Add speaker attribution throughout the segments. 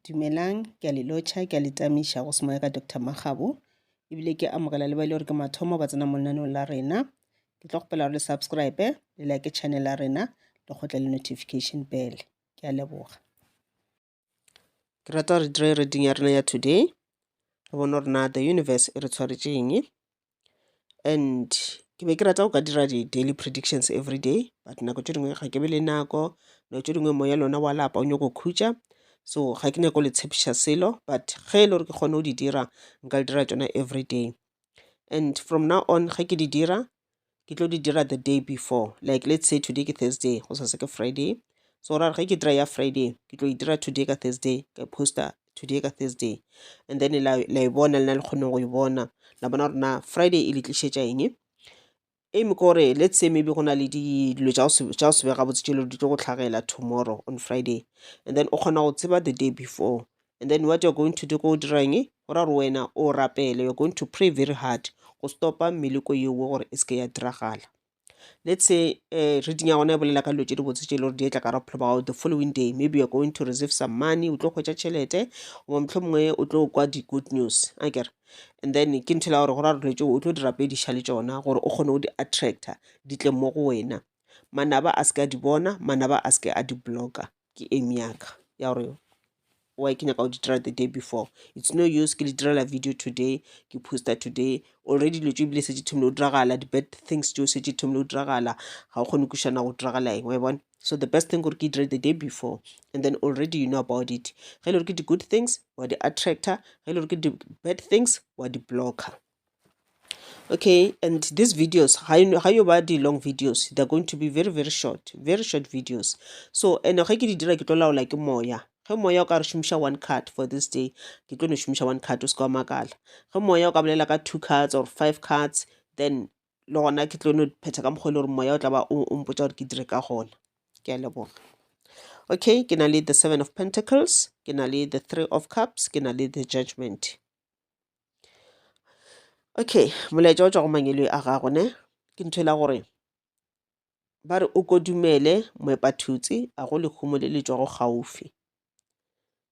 Speaker 1: Dumelang, ke a le lotšha, ke a le tamiša go semoya ka Doctor Makgabo, ebile ke amogela le ba e le gore ke mathomo ba tsena mo lenaneong la rena. Ke tlo kgopela gore le subscribe, le like channel ya rena, le kgotle le notification bell. Ke a leboga. Ke rata re dire reading ya rena ya today, re bone gore na the universe e re tshwaretšeng. and ke be ke rata go ka dira di-daily predictions everyday but nako tše dingwe ga ke be le nako nako tše dingwe moya lona wa lapa o nyako khutša so ga ke nyako le tshepiša selo but ge e le gore ke kgone go di dira nka le dira tšona everyday and from now on ge ke di dira ke tlo di dira the day before like let's say today ke thursday go sase ke friday so ra ge ke dira ya friday ke tlo e dira today ka thursday ka poster today ka thursday and then la la e bona le na le kgoneng go e bona la bona gore na friday e le tlišetša eng aim ke gore let's say maybe go na le di- dilo tša go se- tša go se be gabotse tšelo di tlo go tlhagela tomorrow on friday and then o kgona go tseba the day before and then what you're going to do ko o dirang e go ra gore wena o rapele you're going to pray very hard go stopa meleko yeo gore e se ke ya diragala let's say uh, reading ya gona e bolela ka dilo tse di botse tse e le gore di etla ka ra bophelo ba gago the following day maybe you're going to receive some money o tlo kgwetsa tšhelete goba motlho mongwe o tlo kwa di-good news a kere and then ke ntho la gore go ra dilo tseo o tlo di rapediša le tsona gore o kgone go di-attracta di tle mo go wena manaba a se ke a di bona manaba a se ke a di blocka ke ame yaka ya gore why ke nyaka go di dira the day before it's no use ke le direla video today ke poster today already dilo tse ebile setse thomile go diragala di-bad things teo setse thomile go diragala ga o kgone kušana go diragala eng wa bona so the best thing gore ke dire the day before and then already you know about it ge e le gore ke di-good things wa di-attractor ge e le gore ke di-bad things wa di-blocker okay and these videos ga yo ba di-long videos they're going to be very very short very short videos so and ge ke di dira ke tlo laola ke moya ge moya o ka re šomiša one card for this day ke tlo no šomiša one card o se ka wa makala ge moya o ka bolela ka two cards or five cards then le gona ke tlo no phetha ka mokgwa e le gore moya o tla ba o mpotsa gore ke dire ka gona ke a leboga okay ke na le the seven of pentacles ke na le the three of cups ke na le the judgment Okay, molaetša o tšwa go mangwele a gago ne ke ntho ela gore ba re o kodumele moepathutse a go lehumo le le tšwago gaufi.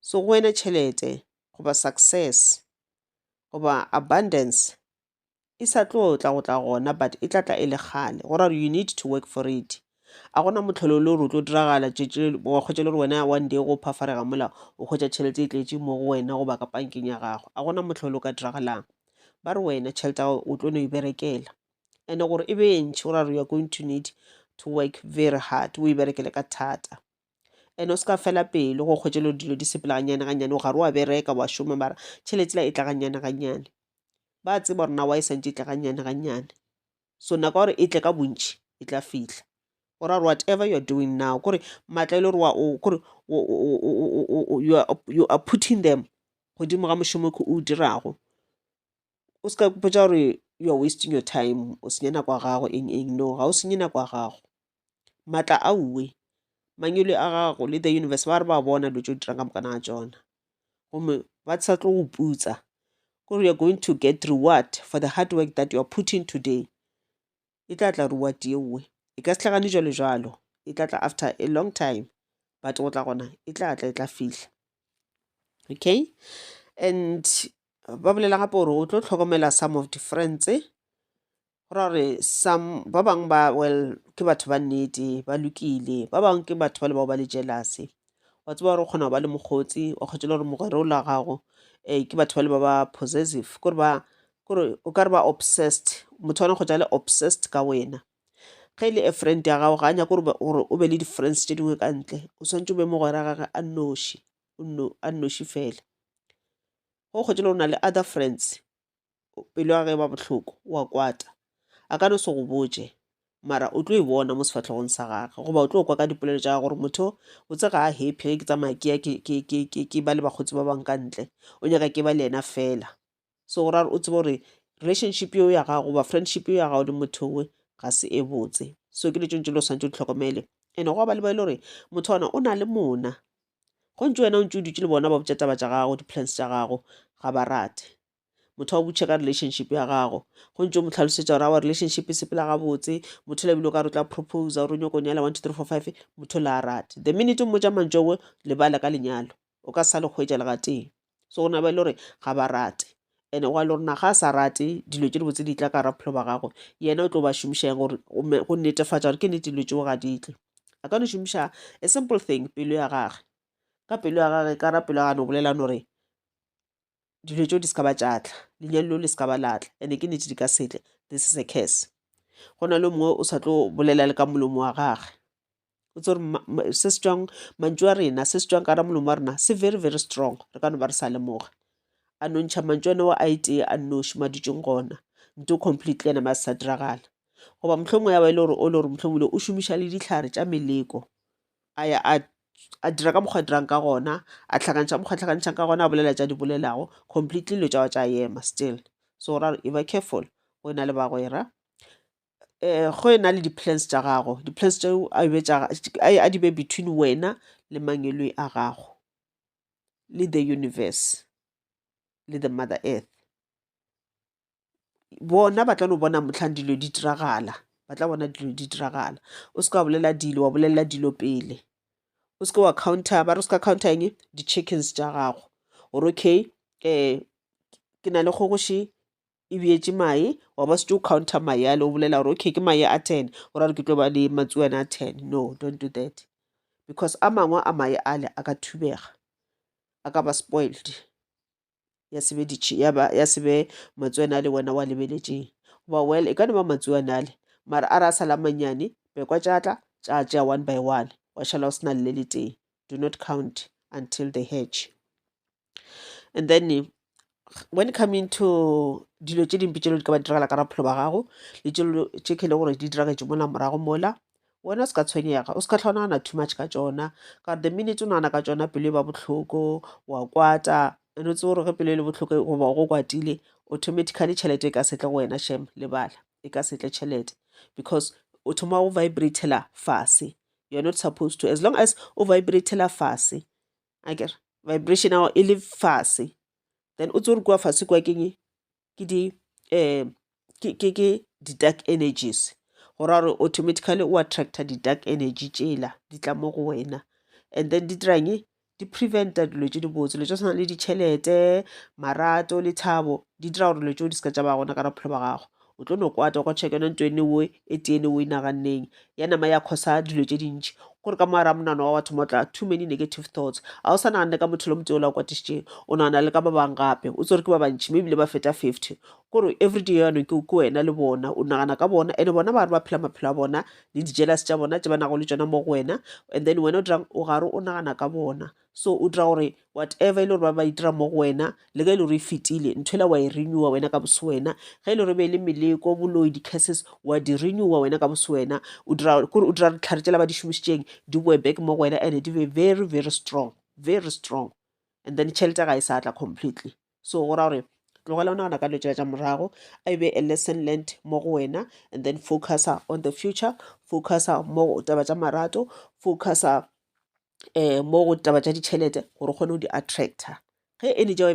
Speaker 1: So go wena tšhelete goba success goba abundance e sa tlo tla go tla gona but e tla tla e le kgale go ra you need to work for it a gona motlholo le gore o tlo diragala wa kgwetsa le gore wena one day go phafarega mola o kgwetsa tšhelete e tletse mo go wena goba ka pankeng ya gago a gona motlholo o ka diragalang ba re wena tšhelete ya gago o tlo no e berekela and gore e be e ntšhi o ra re you are going to need to work very hard o e berekele ka thata and o se ka fela pelo go kgwetše lo dilo di sepela ganyane ganyane o gare wa bereka wa šoma mara tšhelete la e tla ganyane ganyane ba tseba gore nawa e santse e tla ganyane ganyane so nako gore e tle ka bontši e tla fihla or are whatever you are doing now kore maatla e le gore wa o kore you are putting them godimo ga mošomo ke o dirago o se ka kupetša gore you are wasting your time o senya nako ya gago eng eng no ga o senye nako ya gago maatla a uwe mangwele a gago le the universe ba re ba bona dilo tse o dirang ka moka na tsona gomme ba sa tlo go putsa kore you're going to get reward for the hard work that you are putting today e tla tla reward yeowe e ka setlhagane jalo jalo e tla tla after a long time but go tla gona e tla tla e tla fihla okay and ba bolela gape gore o tlo tlhokomela some of difference Go ra gore some ba bangwe ba well ke batho ba nnete ba lokile ba bangwe ke batho ba le bao ba le jealousy wa tseba gore o kgona go ba le mokgotsi wa kgotse le gore mogwere o la gago um ke batho ba le ba ba possessive kore ba kore o ka re ba obsessed motho wa kgotsa le obsessed ka wena ge e le a friend ya gago ga a nyako gore o be le di-friends tse dingwe ka ntle o swantse o be mogwera gage a noši a nnoši fela go kgotse le gore o na le other friends pelo ya ge ba bohloko wa kwata a ka no se go botše mara o tlo e bona mo sefahlogong sa gage goba o tlo kwa ka dipolelo tša gore motho o tse ga a happy ge ke tsamaya ke ya ke ba le bakgotsi ba bang ka ntle o nyaka ke ba le yena fela so go ra o tsebe gore relationship eo ya gago goba friendship eo ya gago le motho we ga se e botse so ke letšong tse le swantse di tlhokomele and go ba le ba e le gore motho ona o na le mona go ntse wena o ntse o dutse le bona ba botša taba tša gago di-plans tša gago ga ba rate motho a o botšhe ka relationship ya gago go ntse mo tlhalosetsa gore our relationship e sepela gabotse motho le bile o ka re tla propose gore o nyoko nyala one two three four five motho le a rate the minute o mmotsa mantso owe lebala ka lenyalo o ka
Speaker 2: sa le kgwetsa le gatee so gona ba e le gore ga ba rate and wa le rona ga a sa rate dilo tse di botse di tla ka raphelo ba gagwe yena o tlo ba šomišang gore go netefatsa gore ke nete dilo tseo ga di tle a ka no šomiša a simple thing pelo ya gage ka pelo ya gage ka ra pelo ya gane o bolelang gore dilo tšeo di se ka ba tša tla lenyalo leo le se ka ba la tla ene ke nete di ka setle this is a curse go na le mongwe o sa tlo bolela le ka molomo wa gage o tse gore se se tswang mantšu a rena se se tswang ka ra molomo wa rena se very very strong re ka no ba re sa lemoga a no ntšha mantšu ene wa a itee a nnoši madutšong gona nto completely ena ma se sa diragala goba mohlomongwe ya ba e le gore o le gore mohlomongwe o šomiša le ditlhare tša meleko a ya a a dira ka mokgwa a dirang ka gona, a hlakantšha mokgwa a hlakantšhang ka gona, a bolela tša di bolelago completely dilo tša gagwe tša ema still. So ra re e ba careful go ena le bagwera um go ena le di-plans tša gago, di-plans tšeo a be tša a di beye between wena le mangwelwe a gago le the universe le the mother earth. bona ba tla no bona motlhang dilo di diragala ba tla bona dilo di diragala o seka wa bolela dilo wa bolelela dilo pele o seke wa counter ba re o seka counter eng di-chickens tša gago gore okay um ke na le kgogoši e beetse mae wa ba setse o counter mae ale o bolela gore okay ke mae a ten o ra re ke tlo ba le matsuana a ten no don't do that because a mangwe a mae ale a ka thubega a ka ba spoiled ya se be ditšhe ya ba ya se be matsuanale wena wa lebeletšeng goba well e ka no ba matsuanale mara a re a sala manyane bekwa tša tla tša tšea one by one wa šala o se na le le teng do not count until they hatch and then when coming to dilo tše dimpe tšelo di ka ba diragala ka raphelo ba gago le tšelo tše khele gore di diragetše mola morago mola Wena o se ka tshwenyega, o se ka hlwa o nagana too much ka tšona, ka gore the minute o nagana ka tšona pelo e ba bohloko, wa kwata and o tsebe gore ge pelo e le bohloko goba go kwatile automatically tšhelete e ka setle go wena shem lebala e ka setle tšhelete because o thoma go vibratela fase you're not supposed to as long as o vibratela fase a kere vibration ao e le fase then o tse gore kua fase kua keng ke di um ke di-dark energies go ra gore automatically o attractor di-dark energy tšela di tla mo go wena and then di dirang di preventa dilo tše dibotse dilo tša tshwana le ditšhelete marato lethabo di dira gore dilo tšeo di se ka tša ba gona ka ra bophelo ba gago o tlo no kwata kwa check yona ntho ene oe e tee ene o e naganneng ya nama ya khosa dilo tše dintši gore ka moara monano wa watho motla too many negative thoughts a o sa naganne ka motho lo motse o la o kwatišitšeng o nagana le ka ba bang gape o tsere ke ba bantši mme ebile ba feta 50 gore everyday yanong ke ke wena le bona o nagana ka bona ene bona ba re ba phela maphelo a bona le dijealous tša bona tše ba nago le tšona mo go wena and then wena o dirang o gare o nagana ka bona So o dira gore whatever e le gore ba ba itira mo go wena, le ge e le gore e fetile, nthwela wa e renewa wena ka boswena. Ge e le gore e be e le meleko, boloi, di-curses, wa di renewa wena ka boswena. O dira kore o dira ditlhare tšela ba di šomišitšeng di boe back mo go wena and di be very very strong, very strong. And then tšhelete ya ga e sa tla completely. So go ra gore tlogela o nagana ka dilo tšela tša morago, a e be a lesson learned mo go wena and then focusa on the future, focusa mo taba tša marato, focusa um mo go taba tša ditšhelete gore o kgone go di attractor ge e ne tša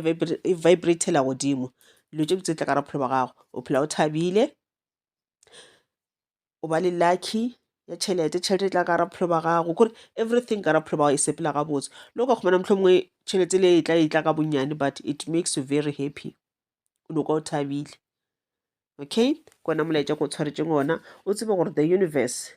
Speaker 2: e vibratela godimo dilo tše botse tla ka bophelo ba gago o phela o thabile o ba le lucky ya tšhelete tšhelete e tla ka gara bophelo ba gago kore everything ka gara bophelo ba gago e sepela gabotse le o ka kgomana motlho mongwe tšhelete le e tla e tla ka bonnyane but it makes you very happy o noka o thabile okay kona molaetša ko o tshwaretseng ona o tsebe gore the universe